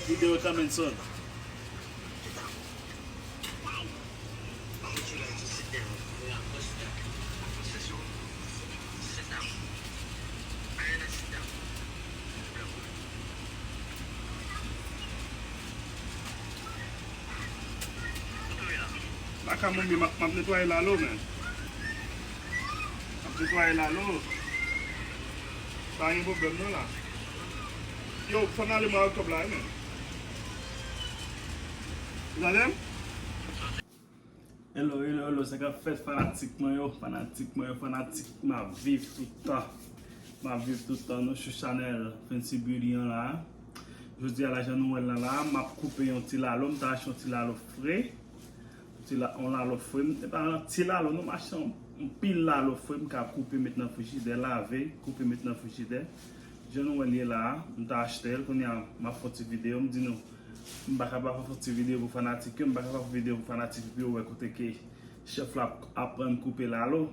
Video coming soon. Baka moun mi map netwaye lalo men. Map netwaye lalo. Sa yon problem nan la. Yo fon ale mwa octobre la wi menm. Ou tandem? Hello hello hello sa kap fèt fanatik mwen yo fanatik mwen yo fanatik map viv tout tan map viv tout tan nou sou chanèl Fancy Beauty an la jodia la jan nou wèl nan la map koupe yon ti lalo m ta achte yon ti lalo fre Ti la on lalo frèm. E pa ti lalo non mache an pil lalo frèm ka koupe met nan frijidè lave koupe met nan frijidè jan nou wèl ye la a m ta achtel kounya map fon ti video m di nou m paka pa fon ti video pou fanatik yo m paka pa fon video pou fanatik yo pou yo wè kote ke chèf la ap aprann koupe lalo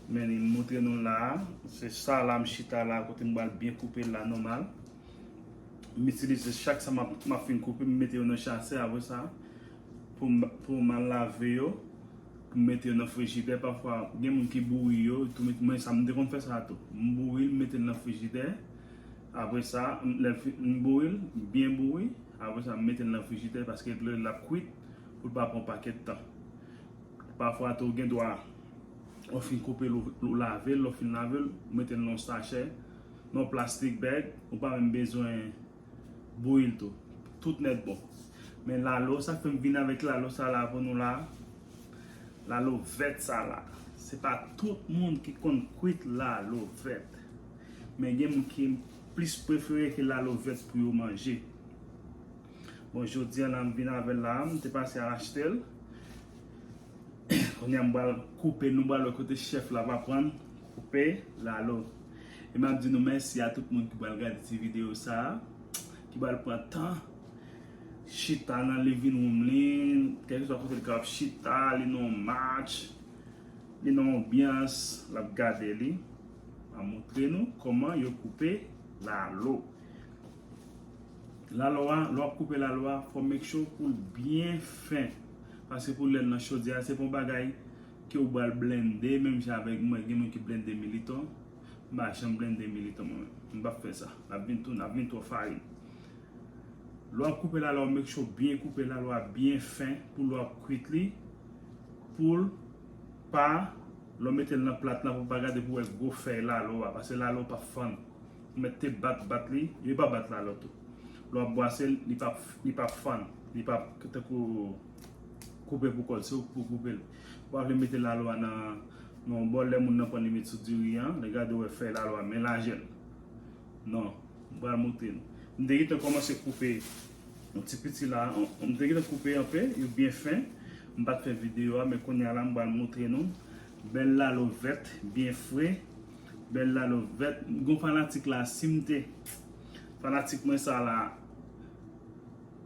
men li m moutre nou l la a se sa la m chita la a kote m bal byen koupe l la nòmal m itilize chak sa map map fin koupe m mete yo nan chasè apre sa Pou mal lave yo, pou mete yo nan frijidè, pafwa gen moun ki bouri yo, mwen sa mwen te konn fè sa tou, m bouri m mete l nan frijidè, apre sa m bouri l, byen bouri, apre sa m mete l nan frijidè paske dlo l ap kwit pou l pa pran pakèt tan. Pafwa tou gen dwa ou fin koupe l ou lave l, lè w fin lave l, ou mete l nan yon sachè, nan yon plastik bag, ou pa menm bezwen Bouyil tou. Tout nèt bon. Men lalo, sak fèm vin avèk lalo sa la pou nou la? Lalo vèt sa la. Se pa tout moun ki konn kwit lalo vèt. Men gen moun ki plis prefere ke lalo vèt pou yo manje. Bon, jodi an la m vin avèl la. M te pase al achetel. Kounye a m pral koupe. Nou pral wè kote chèf la va prann koupe lalo. E map di nou mèsi a tout moun ki pral gade ti video sa a, ki pral pran tan chita nan living room li, kèlkeswa kote li ka ap chita, li nan yon match, li nan yon anbyans, lap gade li. Map montre nou kòman yo koupe lalo. Lalo a, lè wap koupe lalo a, fò make sure poul byen fen, paske pou lèl nan chodyè a se pa yon bagay. Ke ou bal blende menm jan avek mwen gen moun ki blende militon m pa janm blende militon mwen menm m pap fè sa lap vin tou nap vin twò farin lè wap koupe la la ou make sure byen koupe la la byen fen pou lè wap kwit li poul pa lè w metel nan plat la pou pa gade pou wè gwo fèy la la a pase la la ou pap fann ou mèt te bat bat li yo pa bat la la tou lè wap bwasel li pap li pap fann li pap tankou. koupe pou kòl se ou ki pou koupel ou pa vle mete lalwa nan yon bòl lè moun nan prann li met sou diri an lè gade ou wè fèy lalwa men lajèl nan m pral montre nou m te gentan kòmanse koupe yon ti piti la m te gentan koupe anpe yo byen fen m pat fè videyo a men kounya la m pral montre nou bèl lalo vèt byen fre bèl lalo vèt m gon fanatik la si m te fanatik mwen sa la.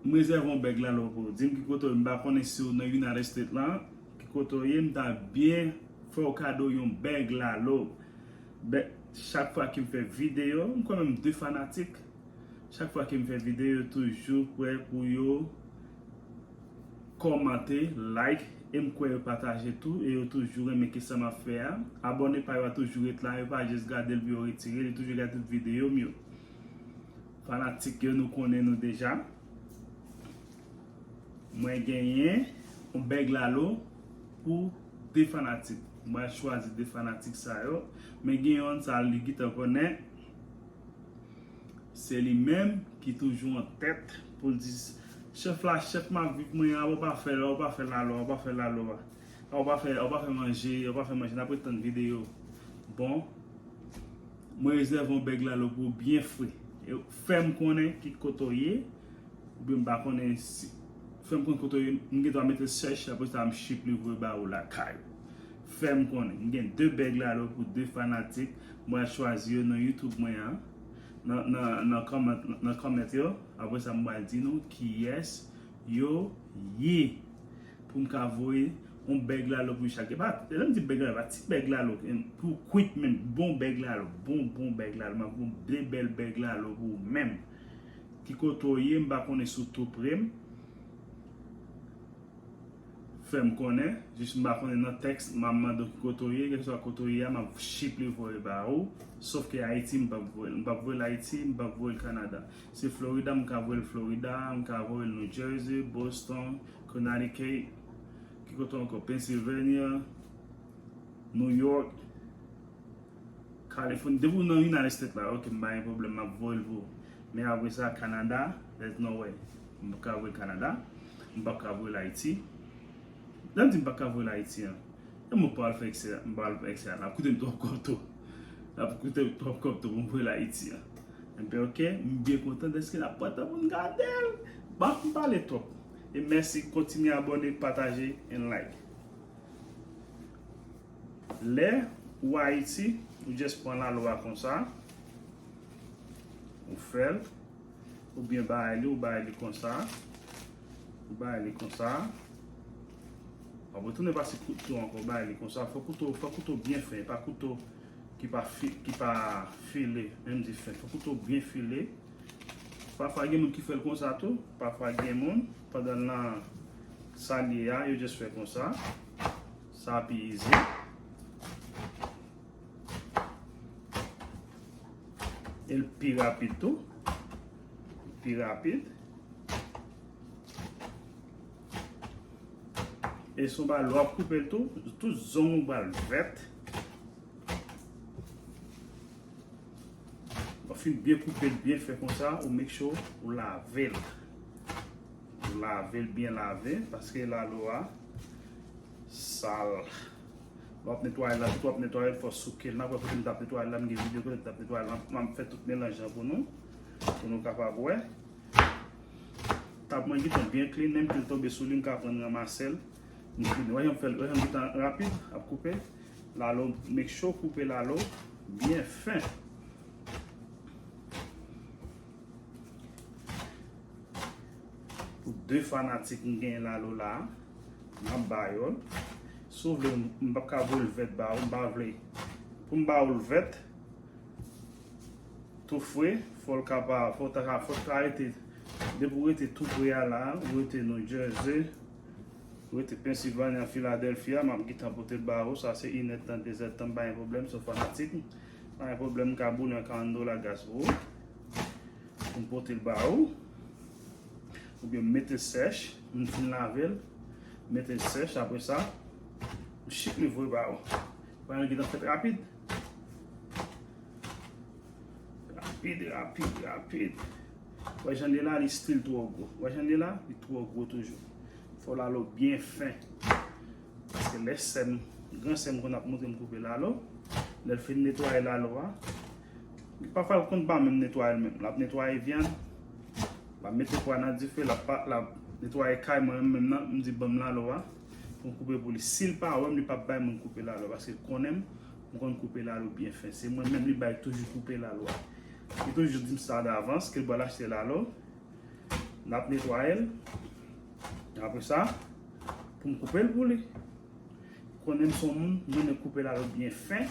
M rezève yon bèg la lè w pou w di m ki kote w ye m pa konnen si w nan United States la ki kote w ye m ta byen fè w kado yon bèg la lè w bèk chak fwa ke m fè videyo m kwè menm 2 fanatik chak fwa ke m fè videyo yo toujou prè pou yo kòmante like e m kwè yo pataje tou e yo toujou renmen ke sa m ap fè a abòne pa yo a toujou ret la yo pa jis gade l pou yo retire li toujou gade tout videyo m yo. Fanatik yo nou konnen nou deja. Mwen genyen yon bèg lalo pou 2 fanatik. Mwen pral chwazi 2 fanatik sa yo. Men gen yon sa li gentan konnen. Se li menm ki toujou an tèt pou l di chèf la chèf m ap viv mwen a ou pa fè ou pa fè lalo a ou pa fè lalo a. Ou pa fè ou pa fè manje ou pa fè manje nap ret tann video bon mwen rezève yon bèg lalo pou ou byen fre fèm konnen ki kote ou ye oubyen m pa konnen si fèm konnen kote ou ye m gendwa metel sèch aprè sa m ship li voye ba ou lakay ou fèm konnen m gen 2 bèg lalo pou 2 fanatik mwen al chwazi yo nan youtube mwen an nan nan nan comment yo aprè sa m pral di nou kiyès yo ye pou m ka voye yon bèg lalo pou Ishak. E pa, e lè m di bèg lalo, pa ti bèg lalo pou kwit menm, bon bèg lalo, bon bon bèg lalo, m ap voye de bèl bèg lalo pou ou menm. Ki kote w ye, m pa konnen si w tou pre m, fè m konnen, jis m pa konnen nan tèks m a mande w ki kote w ye, kèlkeswa kote w ye a m ap chiple voye ba ou, sof ke Ayiti m p ap voye l, m p ap voye l Ayiti, m p ap voye l Kanada. Se Florida m ka voye l Florida, m ka voye l New Jersey, Boston, Connecticut, ki kote ankò? Pennsylvania, New York, California. Depi w nan United States la, ok, m pa gen pwoblèm, m ap voye l pou ou. Men apre sa, Canada, there's no way. M pa ka voye Canada, m pa ka voye l Haiti. Lèm di m paka voyel Ayiti an, e mwen pa al fè eksè a, m pa al fè eksè a, lap koutem twòp kòb tou, lap koutem twòp kòb tou pou m voyel Ayiti an. Enben ok, m byen kontan dèske lap pran tan pou m gadel. Bon, m pale twòp. E mèsi, kontinye abòne, pataje and like. Lè ou Ayiti, ou just pran lalwa konsa, ou fèl, ou byen bay li, ou bay li konsa. Ou bay li konsa. Wap retounen pase kouto ankò, ou bay li konsa. Fò kouto, fò kouto byen fen, pa kouto ki pa fi, ki pa file, menm di fen. Fò kouto byen file. Pafwa gen moun ki fèl konsa tou, pafwa gen moun pandan nan salye a, yo just fè konsa. Sa pi izi. El pi rapid tou. Pi rapid. E sou ba lwa koupe tou. Tout zon ou bal vèt. Ou fin byen koupe, byen fè kon sa. Ou make sure ou lave l. Ou lave l, byen lave. Paske la lwa sal. Ou lave l. Wap netwaye la tout wap netwaye fò soukel nan wè kote m tap netwaye la m gen video kote m tap netwaye la m fè tout melanj lan pou nou pou nou kapab wè tab mwen gentan byen klin menm kel tonbe sou li m ka pran ramasel m klin wè jan m fè wè jan m gentan rapid ap koupe lalo make sure w koupe lalo byen fen pou 2 fanatik m gen lalo la. Map ba yo l. Si w vle m pap ka voye l vèt ba ou. M pa vle pou m ba ou l vèt tou fre. Fò l ka pa, fò w ta ka, fò w ta rete depi w rete tou pre a la, ou rete New Jersey, ou rete Pennsylvania, Philadelphia, map gentan pote l ba ou. Sa se inèdtan, dezèdtan m pa gen pwoblèm si w fanatik. M pa gen pwoblèm m ka boule yon 40 dola gas pou ou pou m pote l ba ou. Ou byen mete sèch, m fin lave l, mete l sèch apre sa, m chik li voye ba ou. Bagay lan gentan fèt rapid. Rapid, rapid, rapid. Ou wè jan li ye la, li stil twò gwo. Ou wè jan li ye la, li twò gwo toujou. Fò w lalo byen fen. Paske lè sè m, gran sè m konn ap montre m koupe lalo, lè l fin netwaye lalo a, Pafwa l konn pa menm netwaye l menm. L ap netwaye vyann, l ap mete pwa nan dife, l ap netwaye kay mwen menm menm nan. M di ban m lalo a pou m koupe pou li. Si l pa wè m, li p ap bay moun koupe lalo a paske l konnen m. M konn koupe lalo byen fen. Se mwen menm li bay toujou koupe lalo a. Li toujou di m sa davans ke l pral achte lalo. L ap netwaye l. Apre sa, pou m koupe l pou li. Konnen m son moun, m renmen koupe lalo byen fen.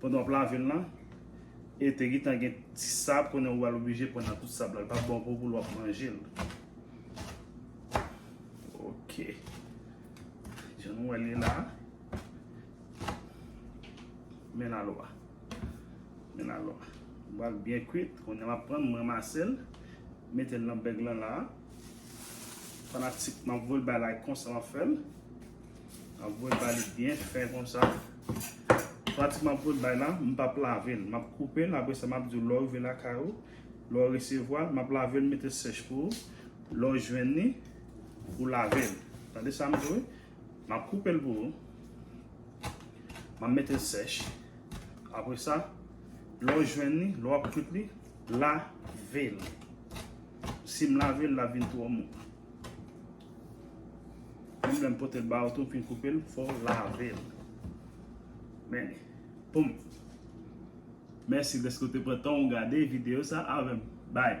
Pandan wap lavel lan e te gitan gen ti sab konnen ou al oblije pran nan tout sab la li pap bon pou ou pou lwa manjel ok jan nou wè li la men la lwa men la lwa wak byen kwit konnen wap pran mwen masel metel nan beg lan la fanatik map vwel bay like konsa wap fel Map voye ba li byen fen konsa. Pati map voye bay la, m pap lave l. Map koupe l, apresa map di w lè w rive lakay ou, lè w resevwa l, map lave l mete sèch pou ou. Lè w jwenn li, ou lave l. Tande sa m di w wi. Map koupe l pou ou. Map mete l sèch. Apresa, lè w jwenn li, lè wap kwit li, lave l. Si m lave l, lap vin twò mou. Mwen menm pote l ba ou tou pi koupe l fò w lave l. Men, poum. Mèsi dèske ou te pran tan ou gade videyo sa avè m. Bye!